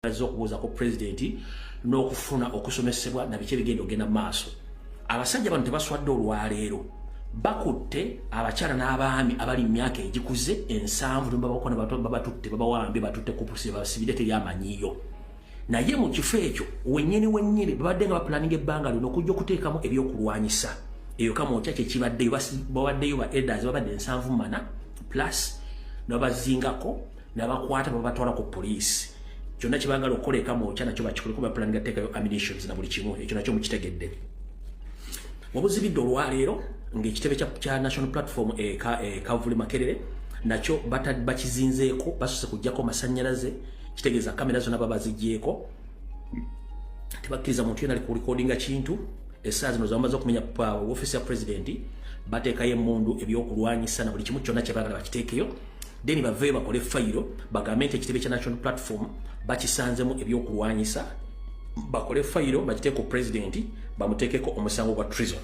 azze okubuuzako pulezidenti n'okufuna okusomesebwa na biki ebigenda okugenda mu maaso abasajja bano tebaswadde olwaleero bakutte abakyala n'abaami abali mu myaka egikuze ensanvu nebabakona babatutte babawambye batutte kupusi basibire teri amanyiyo naye mu kifo ekyo wenyini wenyini babadde nga bapulaninga ebbanga lino okujja okuteekamu ebyokulwanyisa eyo kama otya kyekibaddeyo babaddeyo ba elders babadde ensanvu mana plus nabazingako nabakwata babatwala ku poliisi kyonna kyebagala okukola ekamwokya nakyo bakikoleko bapulaninga teekayo ammunitions na buli kimu ekyo nakyo mukitegedde wabuzibidde olwaleero ngaekitebe kya national platform ekavuli e, makerere nakyo bakizinzeeko basuse kujjako masanyalaze kitegeeza kamera zona baba zigyeko tebakkiriza muntu yona alikulikodinga kintu esaa zino zamaze okumenya uh, office ya presidenti bateekayo emundu ebyokulwanyisa na buli kimu kyonna kyebagala bakiteekeyo then baveyo bakole fayiro bagambe nti ekitebe kya national platform bakisanzemu ebyokulwanyisa bakole fayiro bakiteeko pulezidenti bamuteekeko omusango gwa trison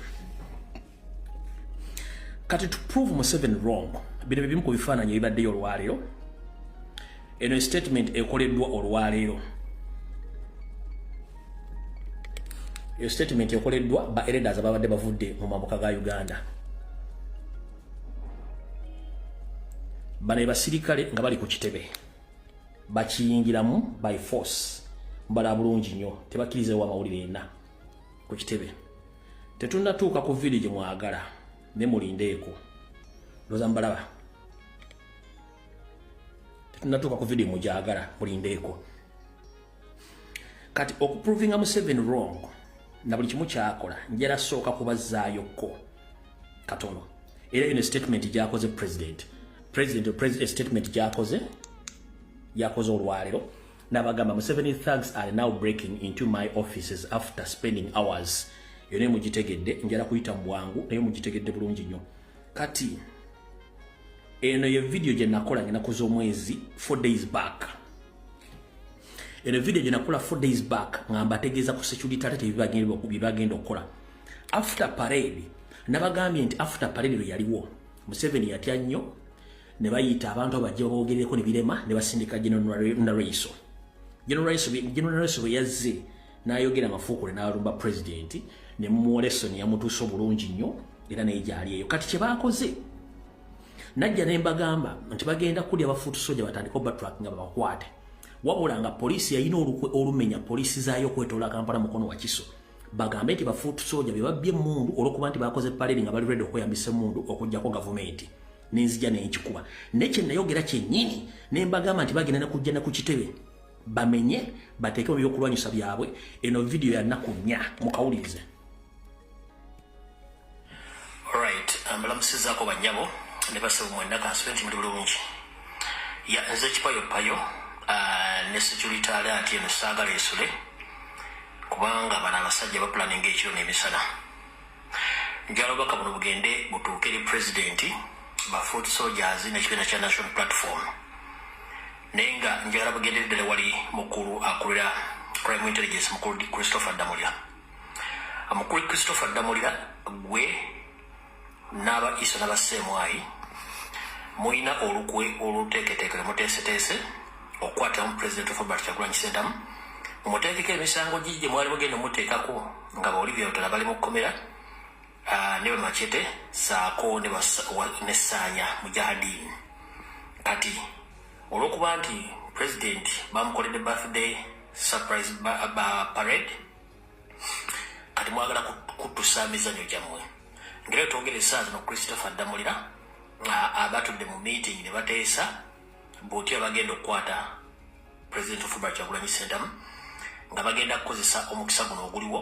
kati to prove museven wrong bino byebimu ku bifaananyi ebibaddeyo olwaleero eno estatement ekoleddwa olwaleero eyo statement ekoleddwa ba eredas ababadde bavudde mu mambuka ga uganda bano ebasirikale nga bali ku kitebe bakiyingiramu by force mbala bulungi nnyo tebakiriza wa mawulire yenna ku kitebe tetunnatuuka ku village mwagala ne mulindeeko loza mbalaba tetunnatuuka ku village mugyagala mulindeeko kati okuprovinga museven wrong na buli kimu kyakola njera sooka kubazaayokko katono era eno statement gyakoze president president president statement gyakoze yakoze olwalero nabagamba museven thugs are now breaking into my offices after spending hours yone mugitegedde njera kuyita mubwangu naye mugitegedde bulungi nyo kati eno ye video gye nakola ngenakoze omwezi four days back eno video gye nakola four days back nga mbategeeza ku security tate bye bagenda okukola after parade nabagambye nti after parade lwe yaliwo museveni yatya nnyo ne bayita abantu abajja boogerereko ne birema ne basindika generalnaraiso generalnaraiso bwe yazze n'ayogera amafuukule n'alumba pulezidenti ne mumwolesoni yamutuusa obulungi nnyo era naye gyali eyo kati kye baakoze najja ne mbagamba nti bagenda kulya ba foot soldier batandika oba track nga babakwate wabula nga poliisi yalina olukwe olumenya poliisi zaayo okwetoola kampala mukono wakiso bagambe nti ba foot soldier be babbye emmundu olwokuba nti bakoze paleeri nga bali redi okweyambisa emmundu okugyako gavumenti nenzija nenkikuba naye kyenayogera kyennyini ne mbagamba nti bagenda nekujja ne ku kitebe bamenye bateekemu ebyokulwanyisa byabwe eno vidiyo yanaku nnya mukawulirize Alright, mbalamusizaako um, bannyabo ne basebo mwenna kansube nti muli bulungi. Ya nze kipayo payo uh, ne security alert eno saagala esule kubanga bano abasajja bapulaninga ekiro n'emisana. Njala obubaka buno bugende butuuke eri pulezidenti, ba foot soldiers n'ekibiina kya National Platform. Naye nga njala bugendereddala wali mukulu akulira Crime Intelligence mukulu Christopher Damulya. amukubi christopher ddamulira gwe n'aba isa n'abaseemwayi mulina olukwe oluteeketeekere muteeseteese okukwatamu pulezidenti robert kyagulanyi sentamu mumuteekeko emisango gi gye mwali mugenda omuteekako nga baolivyotala bali mu kkomera ah, ne bamacete saako nesaanya mujahadiini kati olwokuba nti pulezidenti bamukoledde birthday surprise ba, ba parade kati mwagala kutusa emizanyo gyammwe ngera twogera esaa zino christopher ddamulira abatudde mu meeting ne bateesa buti abagenda okukwata president ofuba kyagulanyi sentamu nga bagenda kukozesa omukisa guno oguliwo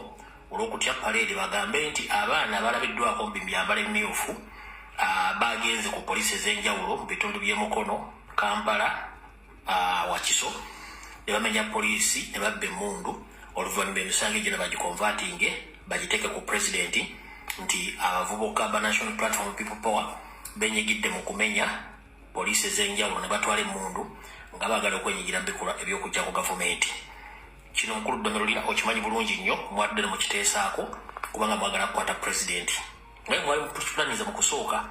olwokutya paleedi bagambe nti abaana balabiddwako mu bimyambala emyufu bagenze ku poliisi ez'enjawulo mu bitundu by'emukono kampala uh, wakiso ne bamenya poliisi ne babba emmundu oluvannyuma emisango egyo ne bagikonvatinge bagiteeke ku pulezidenti nti abavubuka ba national platform people power benyigidde mu kumenya poliisi ez'enjawulo ne batwala emmundu nga baagala okwenyigira mu bikolwa eby'okujja ku gavumenti kino mukulu ddomerulira okimanyi bulungi nnyo mwadde ne mukiteesaako kubanga mwagala kukwata pulezidenti naye mwali mukutukiplaniza mukusooka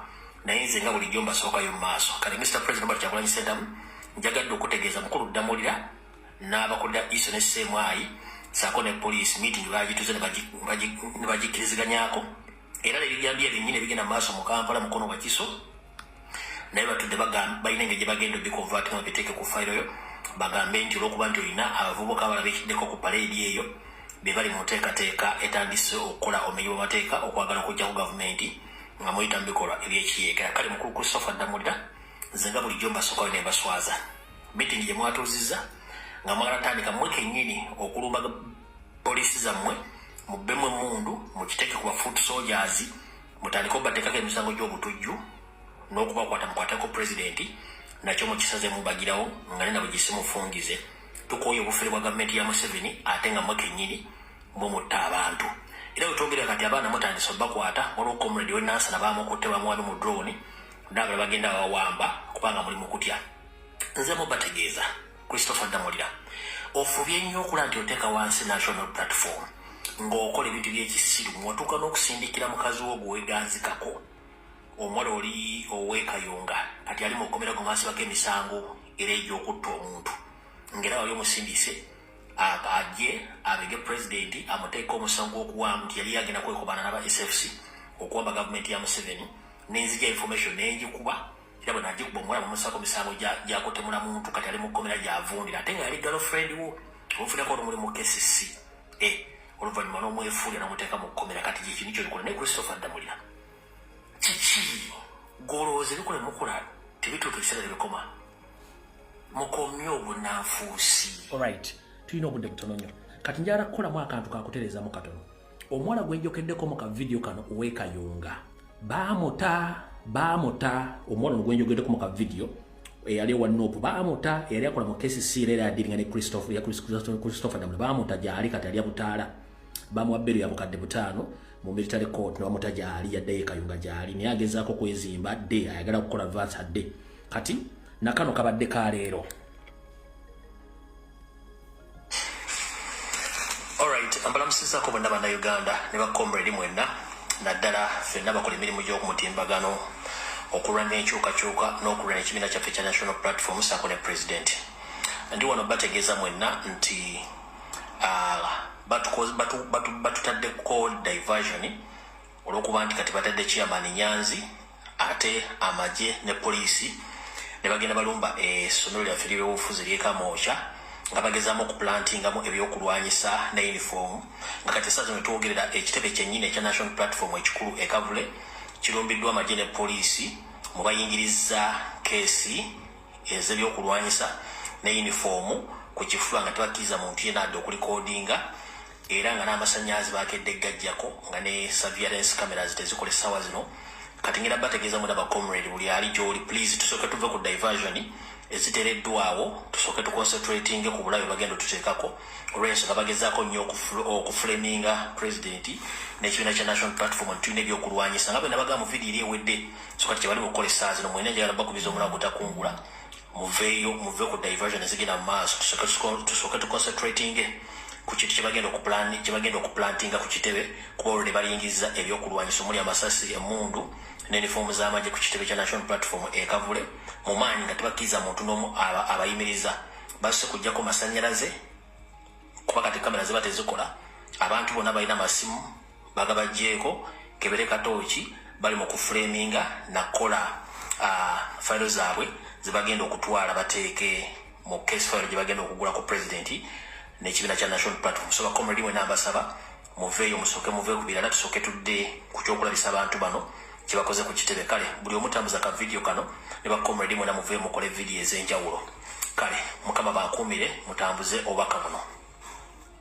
naye nze nga bulijjo mbasookayo mu maaso kale mr president bali kyakulanyi sentamu njagadde okutegeeza mukulu ddamulira n'abakulira iso ne seemwayi saako ne poliisi meeting bagituze ne bagikkiriziganyako era nebijambiya byennyini ebigenda mu maaso mu kampala mukono wakiso naye batudde balina engeri gye bagenda obikonvaati nga biteeke ku fayiro yo bagambe nti olwokuba nti olina abavubuka abalabikiddeko ku paleedi eyo be bali mu nteekateeka etandise okukola omenyi bwamateeka okwagala okujjaku gavumenti nga muyita mu bikolwa ebyekiyeekera kale mukulu christopher ddamulira nze nga bulijjo mbasookayo ne mbaswaza mitingi gye mwatuuzizza nga mwagala tandika mwe kennyini okulumba poliisi zammwe mubbemu emundu mukiteeke ku bafuutu sojazi mutandike obatekako emisango gy'obutujju n'okubakwata mukwateko pulezidenti nakyo mukisaze mubagirawo nga ne nabo gisimufungize tukooye obufere bwa gavumenti ya museveni ate nga mwe kennyini mwe mutta abantu era wetwogera kati abaana mutandise obakwata waliwo comrade we nansana bamukutte bamuwano mu drone naabala bagenda bawamba kubanga muli mukutya nze mubategeeza Christopher Ddamulira, ofubye nnyo okula nti oteeka wansi national platform ng'okola ebintu by'ekisiru mw'otuuka n'okusindikira mukazi wo gweweganzikako omuwala oli ow'ekayunga kati ali mu kkomera gwe mwasibako emisango era egy'okutta omuntu ng'era wali omusindise ajje abege pulezidenti amuteeka omusango gw'okuwaamu nti yali yagenda kwekobaana n'aba sfc okuwamba gavumenti ya museveni nenzija information nengikuba era bwe nagikuba omuwala mumusako misango gyakutemula muntu kati ali mu kkomera gyavundira ate nga yali galo friend wo omufunako olumuli mu kcc eh, oluvannyuma n'omwefuulira n'omuteeka mu kkomera kati gyekintu kyo bikola naye christopher ddamulira kiki golooza ebikola emukola tebituuka ebiseera tebikoma mukomye obunanfuusi olright tulina obudde butono nnyo kati njala kukolamu akantu kakutereezamu katono omuwala gwenjokeddeko mu kavidiyo kano owekayunga baamuta baamuta omuwala no gwenjogeddeko mu kavidiyo eyali ewa nopu baamuta eyali akola mu kcc era era adiringa ne christopher christopher damula baamuta gyali kati alya butaala bamuwa bberu ya bukadde butaano mu military court ne bamuta gyali yaddeyo ekayunga gyali naye agezaako kwezimba adde ayagala kukola vance adde kati nakano kabadde ka leero Alright, ambalamusizako bonna bannayuganda ne bakomredi mwenna naddala fenna bakola emirimu gy'okumutimbagano okulwanira enkyukakyuka n'okulwanira ekibiina kyaffe kya national platform saako ne pulezidenti ndi wano bategeeza mwenna nti ah, batutadde ko diversion olwokuba nti kati batadde chairman nyanzi ate amagye ne poliisi ne bagenda balumba essomero lyaffe lyebyobufuzi lyekamookya nga bagezamu okuplantingamu ebyokulwanyisa ne uniform nga kati esaa zino twogerera ekitebe kyennyini ekya national platform ekikulu ekavule kirumbiddwa amagye ne poliisi mu bayingiriza keesi ezebyokulwanyisa ne uniform ku kifuba nga tebakkiriza muntu yena adde okulikodinga era nga n'amasannyalaze baakedde gajjako nga ne surveillance cameras tezikola essaawa zino kati ngenda bategeeza mwena ba comrade buli ali gy'oli please tusooke tuve ku diversion ezitereddwawo tusooke tuconcentratinge ku bulabe bagenda otuteekako olw'ensonga bagezaako nnyo okufuleminga president n'ekibiina kya national platform nti tulina ebyokulwanyisa nga bwe nabagaa mu vidiyo eri ewedde so kati kye bali mu kukola essaawa zino mwena njagala bakubiza omulago gutakungula muveeyo muve ku diversion ezigenda mu maaso tusooke tuconcentratinge ku kintu kyebagenda kyebagenda okuplantinga ku kitebe kuba olwo ne bayingiza ebyokulwanyisa omuli amasasi emundu ne nifoomu z'amagye ku kitebe kya national platform ekavule mu maanyi nga tebakkiriza muntu n'omu abayimiriza basse kujjako masannyalaze kuba kati kamera ziba tezikola abantu bonna balina masimu Bagabajjeeko kebere katooki bali mu ku framinga nakukola uh, fayiro zaabwe zebagenda okutwala bateeke mu case fayiro gyebagenda okugula ku president nekibiina kya national platform so bakomredi wena mbasaba muveeyo musooke muve ku birala tusooke tudde ku kyokulabisa abantu bano kyebakoze ku kitebe kale buli omutambuza ka vidiyo kano ne bakomredi mwena muveeyo mukole vidiyo ez'enjawulo kale mukama bakuumire mutambuze obubaka buno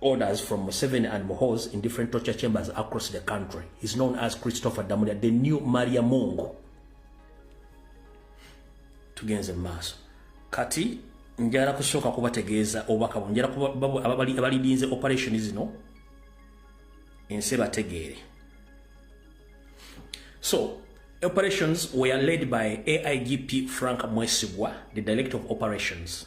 orders from Museveni and Mohoz in different torture chambers across the country. He's known as Christopher Damulia, the new Maria Mungu. Tugenze maso. Kati, njara kusoka kuba tegeza obaka bu. Njara kuba babu ababali, abali dinze operation is no. Inseba tegere. So, operations were led by AIGP Frank Mwesibwa, the director of operations.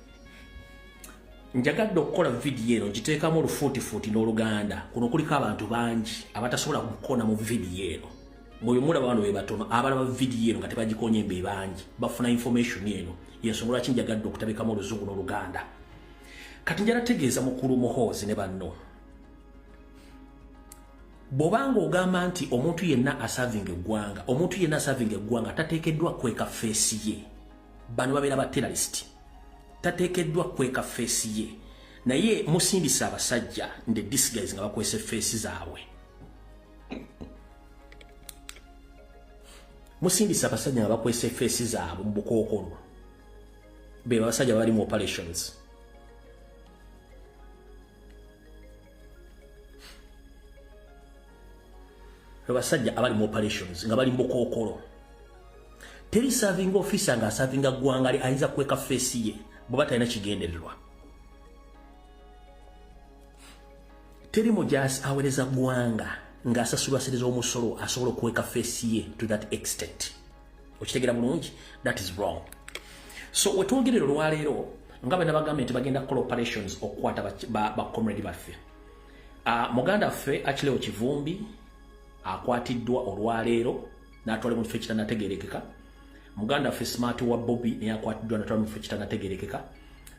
njagadde okukola vidiyo eno ngiteekamu olufuutifuuti n'oluganda kuno kuliko abantu bangi abatasobola kukona mu vidiyo eno mwebimulaba bano bebatono abalaba vidiyo eno nga tebagikonye mbe bangi bafuna information eno yensonga lwaki njagadde okutabikamu oluzungu n'oluganda kati njala tegeeza mukulu muhoozi ne banno bwobanga ogamba nti omuntu yenna asavinga eggwanga omuntu yenna asavinga eggwanga tateekeddwa kweka feesi ye bano babeera ba terrorist tateekeddwa kweka feesi ye naye musindisa abasajja nde disguise nga bakwese feesi zaabwe musindisa abasajja nga bakwese feesi zaabwe mu bukookolo be abasajja bali mu operations abasajja abali mu operations nga bali mukookolo teri serving officer nga asavinga ggwanga li ayinza kukweka feesi ye bweba talina kigendererwa teri mujaasi awereza ggwanga ng'asasulwa sente z'omusolo asobola okukweka feesi ye to that extent okitegera bulungi that is wrong so wetwogerera olwaleero nga bena bagambye nti bagenda kukola operations okukwata bacomrade baffe ah, muganda ffe akileo kivumbi akwatiddwa olwaleero natwala mu kifo ekitanategerekeka muganda ffe smart wa bobi naye akwatiddwa natwala mu kifo ekitanategerekeka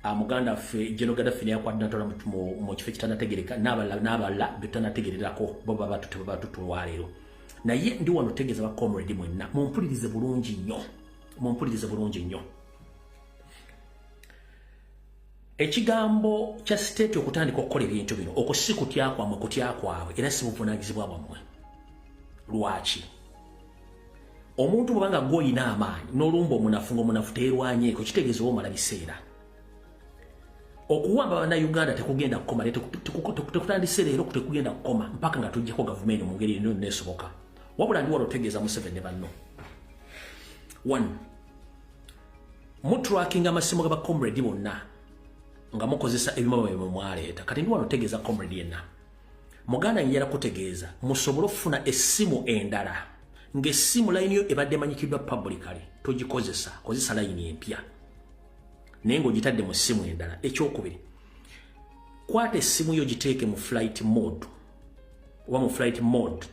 ah, muganda ffe jenogada ffe naye akwatiddwa natwala mu kifo ekitanategereka n'abalala n'abalala betutanategererako bo babatutebabatutu olwaleero naye ndi wano tegeza ba comrade mwenna mumpulirize bulungi nnyo mumpulirize bulungi nnyo ekigambo kya state okutandika okukola ebintu bino okwo si kutya kwamwe kutya kwabwe era si buvunanyizibwa bwammwe lwaki omuntu bwebanga gwoyina amaanyi nolumba omunafu ngaomunafu teerwanyeeko kitegeeza oba omala biseera okuwamba bannayuganda tekugenda kukoma tekutandise leero tekugenda kukoma mpaka nga tujjako gavumenti mu ngeri eno nesoboka wabula ndi wala otegeeza museveni ne banno one mutrakinga amasimu ga bacomrade bonna nga mukozesa ebimama byemwe mwaleeta kati ndi wano otegeeza comrade yenna muganda njala kutegeeza musobole okufuna essimu endala ng'essimu layini yo ebadde emanyikiddwa publicale togikozesa kozesa layini empya naye ng'ogitadde mu ssimu endala ekyokubiri kwata essimu yo giteeke mu flight mode oba mu flight mode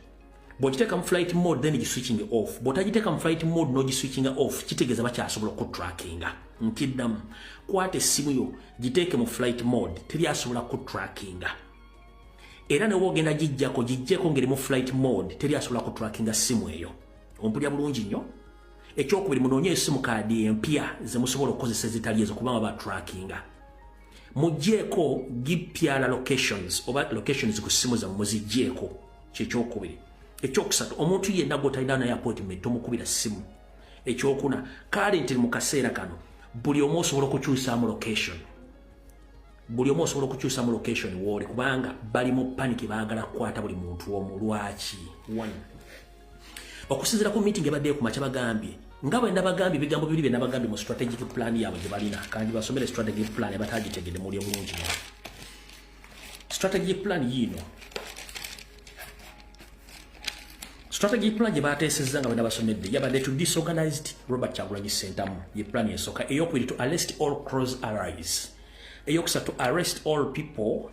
bwogiteeka mu flight mode then giswitching off bwotagiteeka mu flight mode nogiswitchinga off kitegeeza bakyasobola okutrackinga nkiddamu kwata essimu yo giteeke mu flight mode teri asobola kutrackinga era ne wogenda gijjako gijjeko ngeri mu flight mode teri asobola kutrackinga ssimu eyo ompulya bulungi nnyo ekyokubiri munoonye esimu kaadi empya zemusobola okukozesa ezitali ezo kubanga ba trackinga mujjeeko gipyala locations oba locations ku simu zamu muzijjeeko kyekyokubiri ekyokusatu omuntu yenna gwotalina naye appointment tomukubira simu ekyokuna kale nti mu kaseera kano buli omu osobola okukyusamu location buli omu osobola okukyusa mu location wooli kubanga bali mu paniki baagala kukwata buli muntu omu lwaki one okusinzira ku meeting ebaddeyo ku makya bagambye nga bwe nabagambye ebigambo bibiri bye nabagambye mu strategic plan yaabwe gye balina kandi basomere strategic plan abataagitegede muli obulungi strategic plan yiino strategic plan gye baateesezza nga bwe nabasomedde yabadde to disorganized robert kyagulanyi sentamu ye plan esooka eyokubiri to arrest all cross allies eyokusatu arrest all people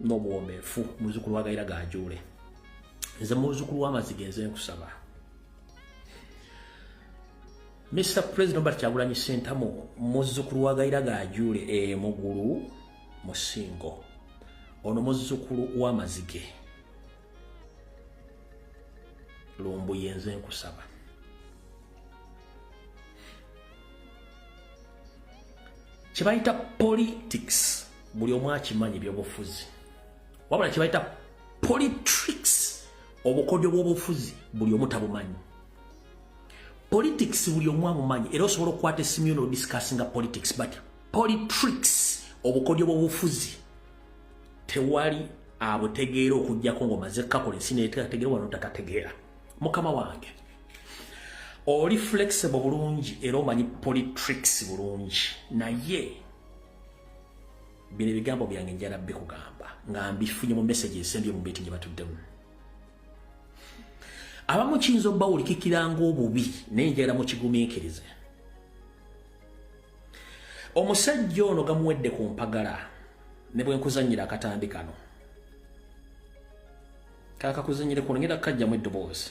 n'obuwombeefu muzukulu wa gayira gajuule nze muzukulu w'amaziga enze nkusaba mr president obert kyagulanyi sentamu muzukulu wa gayira gajuule emugulu musingo ono muzukulu w'amazige lumbuye enze nkusaba kyebayita politics buli omu akimanyi ebyobufuzi wabula kyebayita politics obukodyo bwobufuzi buli omu tabumanyi politics buli omu amumanyi era osobola okukwata esimu yo nodiscussinga politics but politics obukodyo bwobufuzi tewali abutegeera okujjako ngaomaze kukakola ensi netegategeera wano takategeera mukama wange oli flexible bulungi era omanyi politics bulungi naye bino ebigambo byange njala bikugamba nga mbifunye mu message esembye mu meeting batuddemu abamu kiyinza obawulikikira ngaobubi naye njala mukigumiikirize omusajja ono gamuwedde ku mpagala ne bwe nkuzannyira akatambi kano kakakuzannyire ku ngenda kukajjamu eddoboozi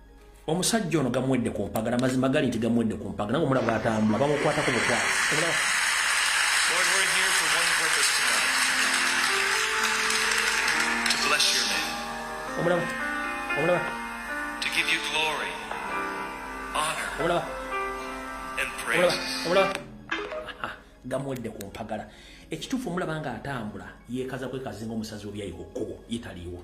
omusajja ono gamuwedde ku mpagala mazima gali nti gamuwedde ku mpagala nga omulaba atambula bamukwatako bukwasi Omulaba. Omulaba. To give you glory, honor. Omulaba. And praise. Omulaba. Gamuwedde ku mpagala. Ekituufu omulaba nga atambula yeekaza kwekazinga omusazi w'ebyayi ku kkubo ye taliiwo.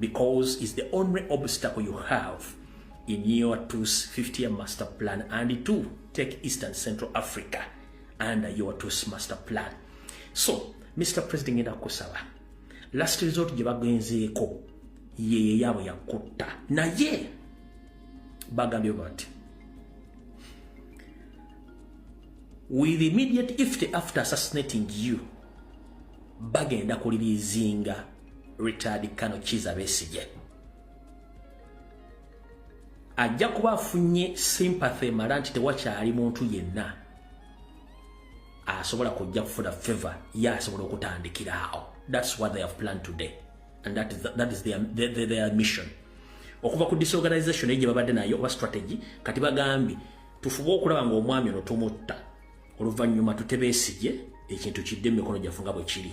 because is the only obstacle you have in your 250 year master plan and to take eastern central africa under your two master plan so mr president ngenda kukusaba last resort gye bagenzeeko yeyo yaabwe yakutta naye bagambye bati with immediate effect after assassinating you bagenda kulirizinga Richard Kano Kiza Besigye ajja kuba afunye sympathy mala nti tewakyali muntu yenna asobola kujja kufuna favor ye asobola okutandikiraawo thats what they have planned today and that is, the, that is their, their, their, their mission okuva ku disorganization eyo gye babadde nayo oba strategy kati bagambye tufube okulaba nga omwami ono tumutta oluvannyuma tutebeesigye ekintu kidde mu mikono gyaffe nga bwe kiri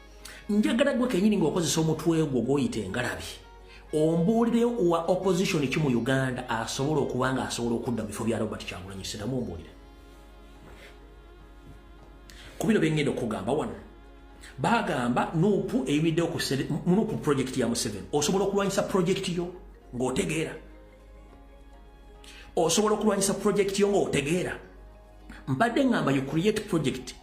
njagala gwe kenyini ng'okozesa omutwe gwo gw'oyita engalabi ombuulire wa opposition ki mu uganda asobola okuba nga asobola okudda mu bifo bya robert kyagulanyi siramu ombuulire ku bino byengenda okugamba wano bagamba nupu eyimiddeo ku nupu project ya museven osobola okulwanyisa project yo ng'otegeera osobola okulwanyisa project yo ng'otegeera mbadde ngamba you create project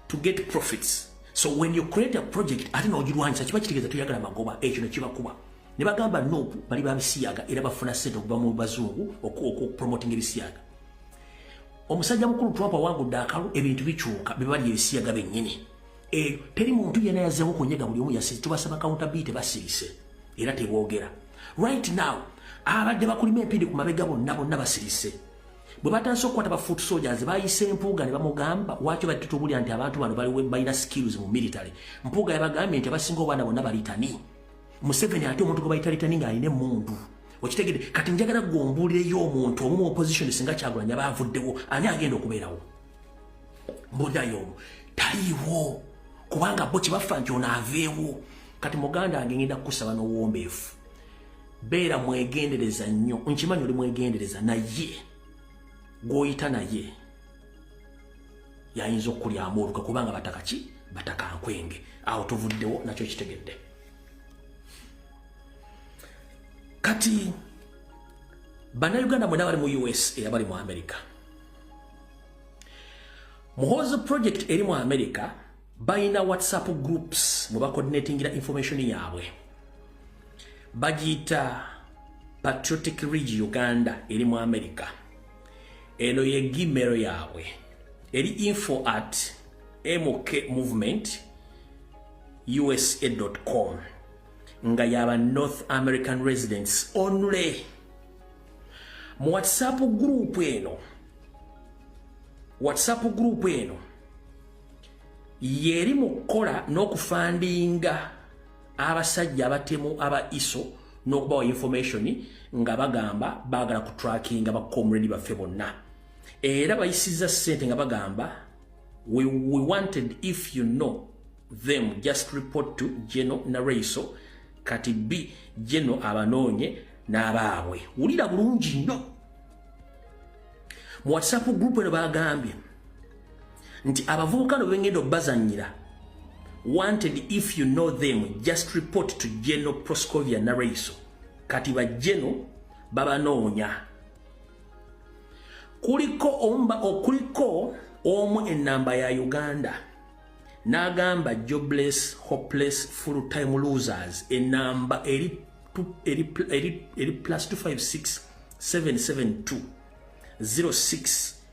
to get profits so when you create a project ate nogirwanyisa kiba kitegeeza toyagala magoba ekyo nekibakuba ne bagamba no bali babisiyaga era bafuna sente okuva mu bazungu okupromoting ebisiyaga omusajja mukulu trump awangudde akalu ebintu bikyuka bebali ebisiyaga bennyini e, teri muntu yena yazewo kunyega buli omu yasize tubasaba kawunta bii tebasirise era tebogera right now abadde bakulima empindi ku mabega bonna bonna basirise bwe batandise okukwata ba foot soldiers bayise empuuga ne bamugamba waki obadde tutubulira nti abantu bano baliwo balina skills mu military mpuuga yabagambye nti abasinga obaana bonna balitani museveni ate omuntu gwe bayita litani ng'alina emmundu okitegede kati njagala gwe ombuulireyo omuntu omu mu opposition singa kyagulanya baavuddewo ani agenda okubeerawo mbuulirayo omu taliiwo kubanga bo kye bafa nti ono aveewo kati muganda ange ngenda kukusaba n'owombeefu beera mwegendereza nnyo nkimanyi oli mwegendereza naye gwoyita naye yayinza okukulyamu oluka kubanga bataka ki bataka nkwenge awo tuvuddewo nakyo kitegedde kati banauganda mwena bali mu us era bali mu america muhoozi project eri mu america balina whatsapp groups mwe bacoordinatingira information yaabwe bagiyita patriotic ridge uganda eri mu america eno ye gimero yaabwe eri info at mk movement usa com nga yaba north american residents only mu whatsapp group eno whatsapp group eno yeri mu kukola n'okufandinga abasajja abatemu aba iso n'okubawa information nga bagamba baagala ku trackinga bakomredi baffe bonna era bayisiza ssente nga bagamba we, we wanted if you know them just report to geno naraiso kati b geno abanoonye n'abaabwe wulira bulungi nnyo mu whatsapp group eno bagambye nti abavubuka no bengenda obazanyira wanted if you know them just report to general proscovia naraiso kati ba general babanoonya kuliko omba okuliko omu enamba ya uganda nagamba jobless hopeless full time losers enamba eri eri eri plus 256 772 06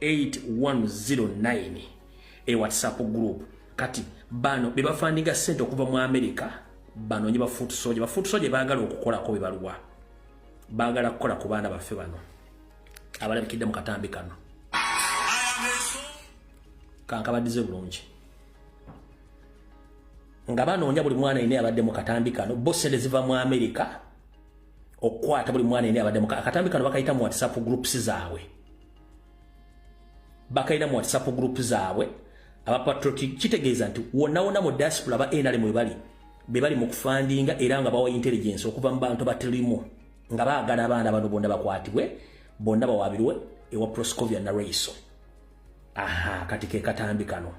8109 e whatsapp group kati bano be bafandinga sente okuva mu america banoonye bafuutu soja bafuutu soja baagala okukolako bebaluwa baagala kukola ku baana baffe bano abalabikidde mu katambi kano kankabadize bulungi nga banoonya buli mwana ine abadde mu katambi kano bosente ziva mu amerika okukwata buli mwana ene abadde akatambi kano bakayita mu whatsapp groups zaabwe bakayina mu whatsapp group zaabwe abapatriotic kitegeeza nti wonawona mu diaspora aba nrm webali bebali mu kufandinga era nga bawa intelligence okuva mu bantu batirimu nga baagala abaana bano bonna bakwatibwe bonna bawabirwe ewa proscovia naraiso aha kati ke katambi kano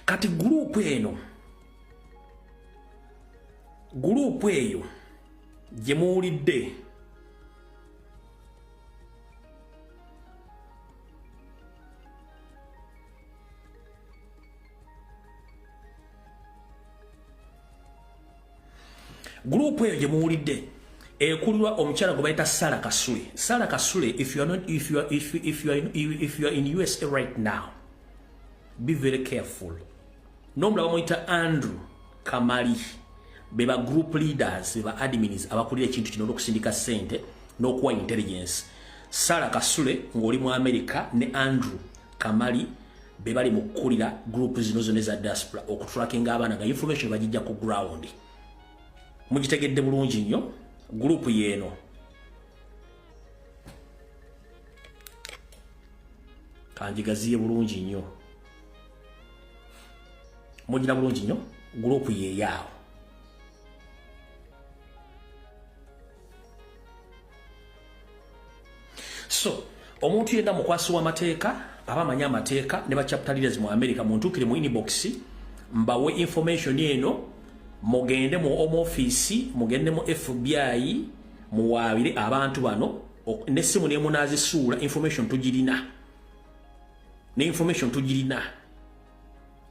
kati gurupu eno guluupu eyo gye muwulidde gurupu eyo gye muwulidde ekulirwa omukyala gwe bayita sara kasule sara kasule if you are not, if you are, if you, if you are, if you are in usa right now be very careful nomulaba muyita andrew kamali be ba group leaders be ba admins abakulira ekintu kino n'okusindika sente n'okuwa intelligence sara kasule ng'oli mu america ne andrew kamali be bali mu kukulira group zino zona eza diaspora okutulakinga abaana nga information bagijja ku ground mugitegedde bulungi nnyo group yeeno kanjigaziye bulungi nnyo mugira bulungi nnyo gurupu yeyaawo so omuntu yenna mukwasi w'amateeka aba amanyi amateeka ne bachapta leaders mu america muntuukire mu inbox mbawe information eno mugende mu home office mugende mu fbi muwaabire abantu bano nessimu nemunazisuula information tugirina ne information tugirina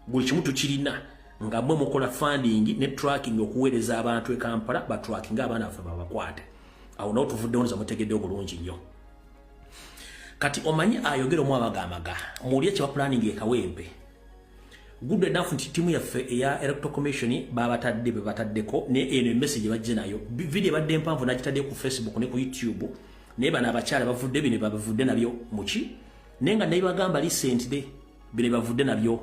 buli kimu tukirina nga mwe mukola funding ne tracking okuweereza abantu e Kampala ba tracking abaana baffe babakwate awo nawo tuvuddewo nza mutegedde obulungi nnyo kati omanyi ayogera omu abagamaga muwulire kye bapulaning ekawempe good enough nti tiimu yaffe eya electoral commission babatadde be bataddeko ne eno emessage bajje nayo video badde empanvu nakitadde ku facebook ne ku youtube naye bano abakyala bavudde bino babavudde nabyo muki naye nga nebagamba lisentde bino bavudde nabyo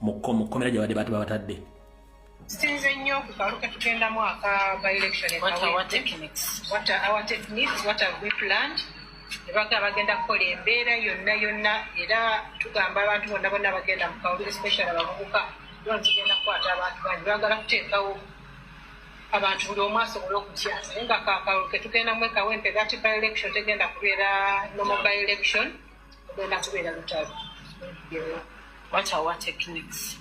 mu kkomera gyabadde bati babatadde sinze nnyo kukaluke tugendamu aka by election nebaga bagenda kukola embeera yonna yonna era tugamba abantu bonna bonna bagenda mu kawulire special abavubuka tugenda kukwata abantu bangi bagala kuteekawo abantu buli omu asobole okutya naye nga kakalulu ketugenda mu ekawempe gati by election tegenda kubeera nomo by election ogenda kubeera lutalo What are our techniques?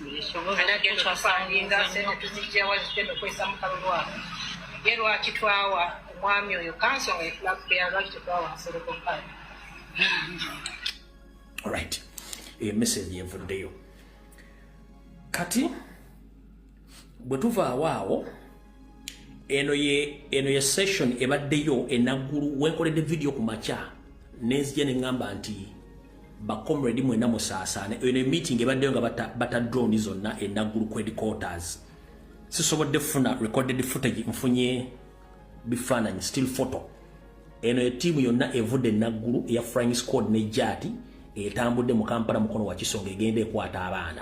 Ye lwaki twawa omwami oyo kanso nga efulakubera lwaki tetwawa nsereko kale right eyo eh, message evuddeyo kati bwe tuvaawo awo eno ye eno ye session ebaddeyo enaggulu wenkoledde vidiyo ku makya nenzija ne ŋŋamba nti bacomredi mwena musaasaane eno emeeting ebaddeyo nga bata, bata drone zonna enaggulu ku headquarters sisobodde funa recorded footage nfunye bifaananyi still photo eno etiimu yonna evudde enaggulu eya frying squad ne jaati etambudde mu kampala mukono wakisonga egenda ekwata abaana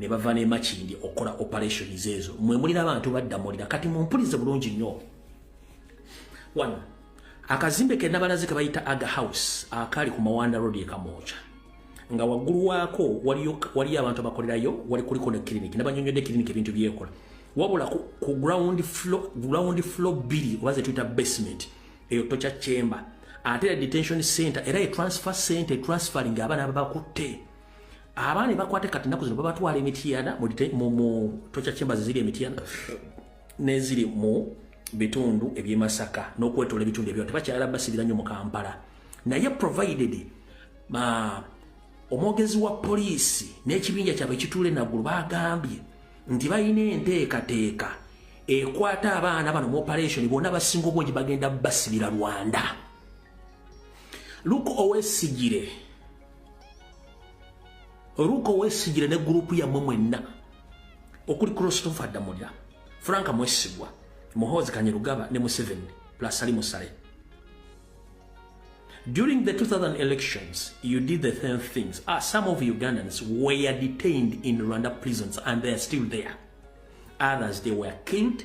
ne bava ne makindi okola operation zezo mwe mulira abantu badda mulira kati mumpulize bulungi nnyo one akazimbe ke nabalaze ke bayita aga house akali ku mawanda road ekamoja nga wagulu wako wali wali abantu abakolerayo wali kuli kona clinic nabanyonyode clinic ebintu byekola wabula ku, ku ground floor ground floor bili waze tuita basement eyo tocha chamber ate detention center era e transfer center transferring abana abakutte abaana ebakwate kati naku zino babatwala emitiyana mu tocha chambers ziri emitiyana neziri mu bitundu ebyemasaka nokwetola ebitundu ebyo tebakyala basibira nyo mu kampala naye provided ma omwogezi wa poliisi n'ekibinja kyabwe kituule naggulu bagambye nti balina enteekateeka ekwata abaana bano mu operation bonna basinga obungi bagenda basibira rwanda luke owesigire ruka owesigire ne gurupu yammwe mwenna okuli christopher damulya franka mwesigwa muhoozi kanyerugaba ne museveni plus ali musale during the 2000 elections you did the same things ah, some of ugandans were detained in rwanda prisons and they are still there others they were killed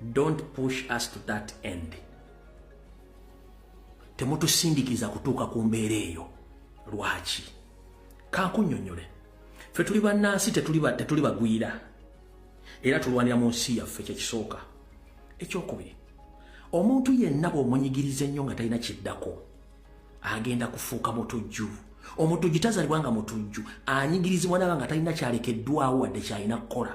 don't push us to that end temutusindikiza kutuuka ku mbeera eyo lwaki kankunyonyole fe tuli bannansi tetuli bagwira era tulwanira mu nsi yaffe kyekisooka ekyokubiri omuntu yenna bwomunyigiriza ennyo nga talina kiddako agenda kufuuka mutujju omutujju tazalibwa nga mutujju anyigirizibwa naba nga talina kyalekeddwawo wadde kyalina kukola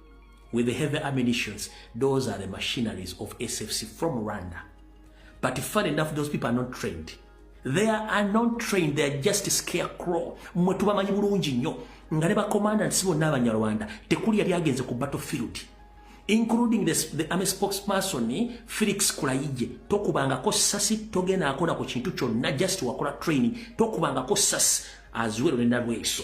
with the heavy ammunitions those are the machineries of sfc from rwanda but fun enough those people are not trained they are not trained they are just scarecrow mwe tubamanyi bulungi nnyo nga ne bacommandants bonna abanyarwanda tekuli yali agenze ku battlefield including the, the army spokesperson Felix Kulayije tokubangako sasi togena akola ku kintu kyonna just wakola training tokubangako sasi aziwero nenda lweso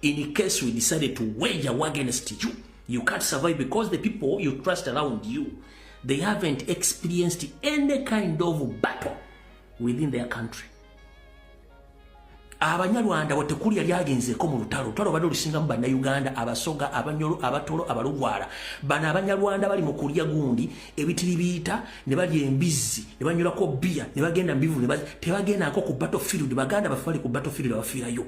In case we decided to wage a war against you, you can't survive because the people you trust around you, they haven't experienced any kind of battle within their country. abanyarwanda watekuli yali agenzeeko mu lutalo lutalo bade olusingamu bannayuganda abasoga abanyolo abatolo abalugwala bano abanyarwanda bali mu kulya gundi ebitiri biyita ne balya embizzi ne banyolako bbiya ne bagenda mubivu tebagendako ku battlefield baganda baffe bali ku battlefield abafiirayo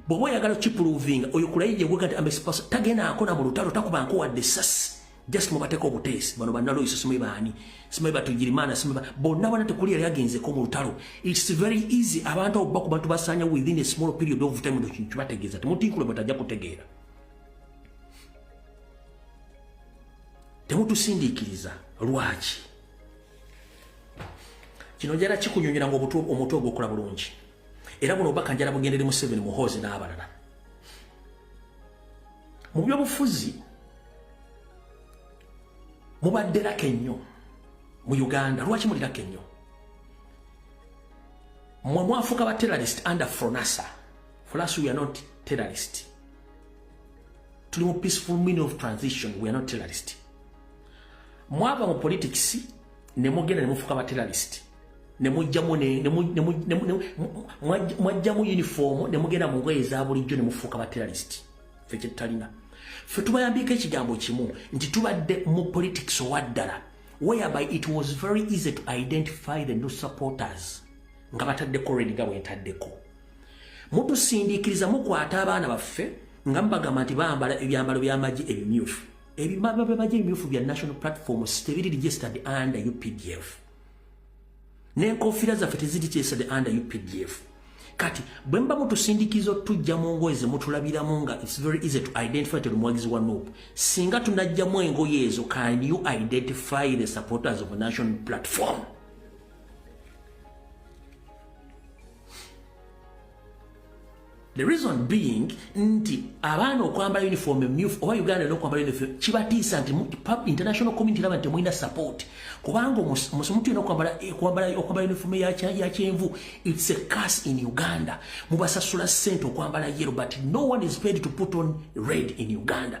bwoba oyagala kipuluvinga oyo kulayija gwega nti amesipasa tagenda akona mu lutalo takuba nkuwadde sasi just mubateko obuteesi bano banaloyiso simanyi baani simanyi batugirimaana simanyi bonna bona tekuli yali agenzeko mu lutalo its very easy abantu abo bakuba tubasanya within a small period of time ekintu kibategeeza temutinkule batajja kutegeera temutusindiikiriza lwaki kino njala kikunyonyera ngaomutwe ogwokola bulungi era buno obubaka njala bugendere museveni muhoozi n'abalala mu byobufuzi mubadde laka ennyo mu uganda lwaki muli laka ennyo mwe mwafuuka ba terrorist under fronasa for us we are not terrorist tuli mu peaceful meaning of transition we are not terrorist mwava mu politics ne mugenda ne mufuka bateralisiti ne mujjamu mwajjamu yunifoomu ne mugenda mu ngoye eza bulijjo ne mufuuka bateralisiti fe kyetutalina fe tubayambiiko ekigambo kimu nti tubadde mu politics owaddala whereby it was very easy to identify the new supporters nga bataddeko redi nga bwentaddeko mutusindiikiriza mukwata abaana baffe nga mubagamba nti bambala ebyambalo by'amagye ebimyufu ebimaba byebaja ebimyufu bya national platform tebiri registered under updf nenkofiira zaffe teziri registered under updf kati bwe mba mutusindikiza otujja mu ngoye ze mutulabiramu nga its very easy to identify to omuwagizi wa nup singa tunajjamu engoye ezo can you identify the supporters of a national platform The reason being nti abaana okwambala uniform emyufu oba Uganda no kwambala uniform kibatiisa nti pub international community laba nti muina support kubanga omusumuntu yena okwambala eh, okwambala okwambala uniform ya cha ya chenvu it's a curse in Uganda mubasasula sente okwambala yellow but no one is paid to put on red in Uganda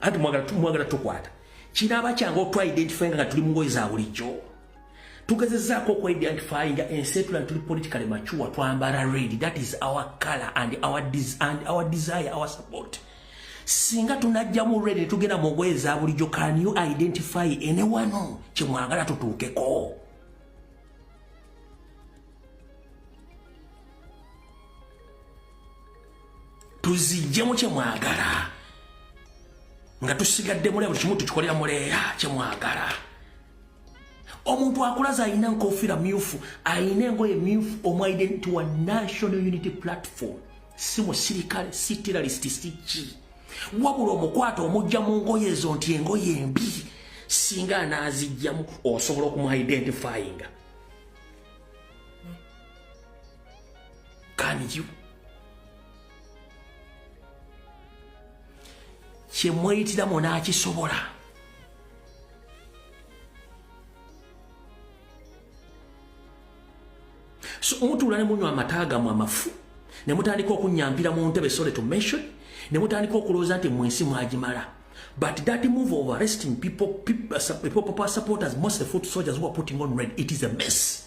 anti mwagala tumwagala tukwata kinaaba kyange otwa identify nga tuli mungoyi za bulijjo tugezezaako okwa identify nga ensi etula ntuli politically mature twambala red that is our color and our, des and our desire our support singa tunajjamu red netugenda mungoyi za bulijjo can you identify anyone kyemwagala tutuukeko tuzijjemu kyemwagala nga tusigadde mule buli kimu tukikolera muleera kyemwagala omuntu akulaza alina nkofiira myufu alina engoye myufu omu identity wa national unity platform si musirikale si terrorist si ki wabula omukwata omujja mu ngoye ezo nti engoye embi singa anaazijjamu osobola okumuidentifyinga Can you? kye mweyitira mwona akisobola so mutuula ne munywa amata gamwe amafu ne mutandika okunyampira mu ntebe sorry to mention ne mutandika okulowooza nti mu ensi mwagimala but that move of arresting people, people, people, people supporters most of the foot soldiers who are putting on red it is a mess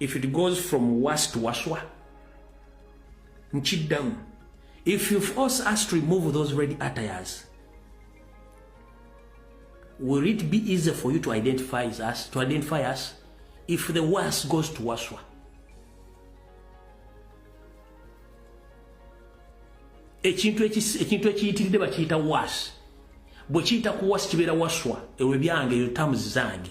if it goes from worse to waswa nkiddamu if you force us to remove those red attires will it be easy for you to identify us to identify us if the worse goes to waswa ekintu ekintu ekiyitiridde bakiyita was bwe kiyita ku was kibeera waswa ewe byange eyo tamuzi zange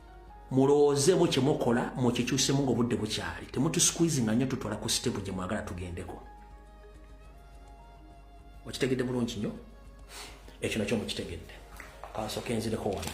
mulowoozemu kyemukola mukikyusemu nga obudde bukyali temutusquizinga nyo tutwala ku sitepu gye mwagala tugendeko okitegedde bulungi nyo ekyo nakyo mukitegedde kansoke nzireko wano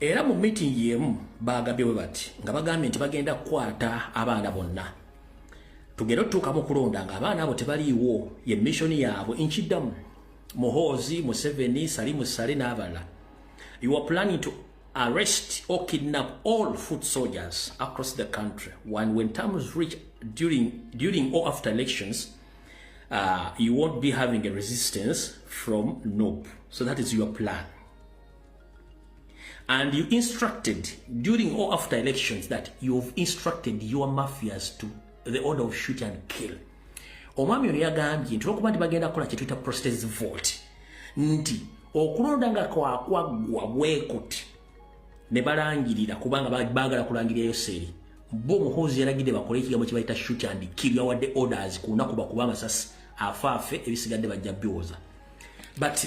Era mu meeting yemu baagabye bwe bati nga bagambye nti bagenda kukwata abaana bonna tugere otutuuka mu kulonda nga abaana abo tebaliiwo ye mission yaabwe nkiddamu muhoozi museveni salimu sale n'abalala you are planning to arrest or kidnap all foot soldiers across the country when, when times reach during, during or after elections uh, you won't be having a resistance from nope so that is your plan And you instructed during or after elections that you've instructed your mafias to the order of shoot and kill. Omwami ono yagambye nti olwokuba nti bagenda kukola kye tuyita prostate vote nti okulonda nga kwakwaggwa bwekuti ne balangirira kubanga baagala kulangirira Yoseeri bo muhoozi yalagidde bakole ekigambo kye bayita shoot and kill yawadde orders ku lunaku bakuba amasasi afaafe ebisigadde bajja biwoza but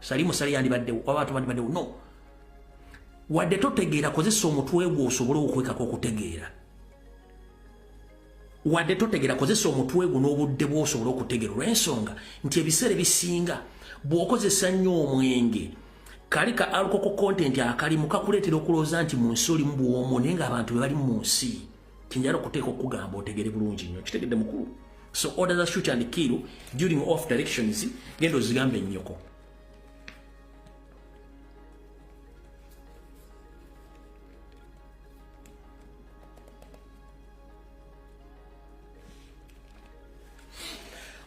sali musali yandibaddewo oba abantu bandibaddewo no wadde totegeera kozesa omutwe gwo osobole okwekako okutegeera wadde totegeera kozesa omutwe gwo n'obudde bwosobole okutegeera olw'ensonga nti ebiseera ebisinga bw'okozesa nnyo omwenge kali ka alkoko kontenti akalimu kakuleetera okulowooza nti mu nsi olimu bwomu naye ng'abantu be bali mu nsi Kinjara kuteeka okugamba otegere bulungi nnyo kitegedde mukulu so order the shoot and kill during off directions genda ozigambe nnyoko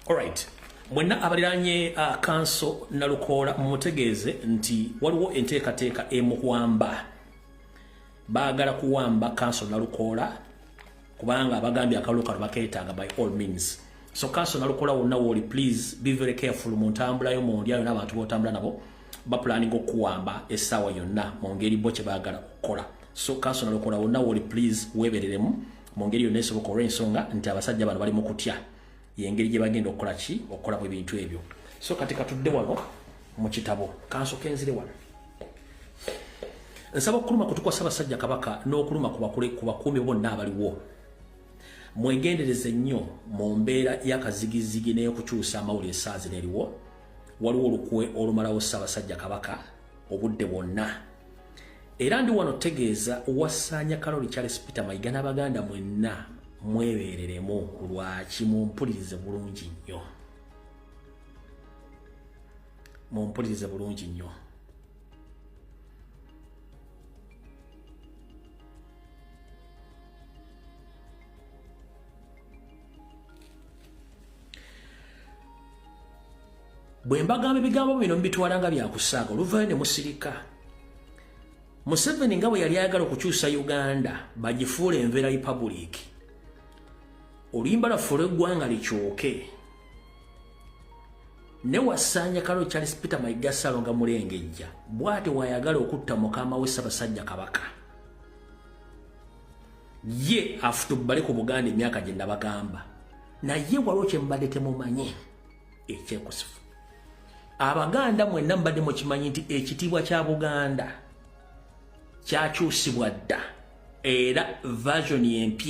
Alright. Mwenna abaliranye uh, kanso nalukoola mumutegeeze nti waliwo enteekateeka emukwamba. baagala kuwamba kanso nalukoola kubanga abagambye akalulu kano bakeetaaga by all means so kanso nalukoola wonna wooli please be very careful mu ntambulayo mu ndyayo n'abantu b'otambula nabo bapulaninga okukuwamba essaawa yonna mu ngeri bo kye baagala okukola so kanso nalukoola wonna wooli please weebereremu mu ngeri yonna esoboka olw'ensonga nti abasajja bano bali mu kutya yengeri gye bagenda okukola ki okukolamu ebintu ebyo so kati katudde wano mu kitabo kansoka enzire wano nsaba okuluma kutukwa ssabasajja kabaka n'okuluma ku bakuumi bonna abaliwo mwegendereze nnyo mu mbeera y'akazigizigi n'eyokukyusa amawulire esaazi neriwo waliwo olukwe olumalawo ssabasajja kabaka obudde bwonna era ndi wano tegeeza wasaanya kalori charles peter mayiga n'abaganda mwenna mwebeereremu lwaki mumpulirize bulungi nnyo mumpulirize bulungi nnyo bwe mbagamba ebigambo bino mubitwala nga byakusaaga oluvayo ne musirika museveni nga bwe yali ayagala okukyusa uganda bagifuula envera republiki oluyimba lwafuula eggwanga likyoke ne wasaanya kalo charles peter maigasalo nga mulengejja bwati wayagala okutta mukama we ssabasajja kabaka ye afutubbale ku buganda emyaka gye nabagamba naye waliwo kyembadde temumanyi ekyekusifu abaganda mwenna mubadde mukimanyi nti ekitiibwa kya buganda kyakyusibwa dda era version empya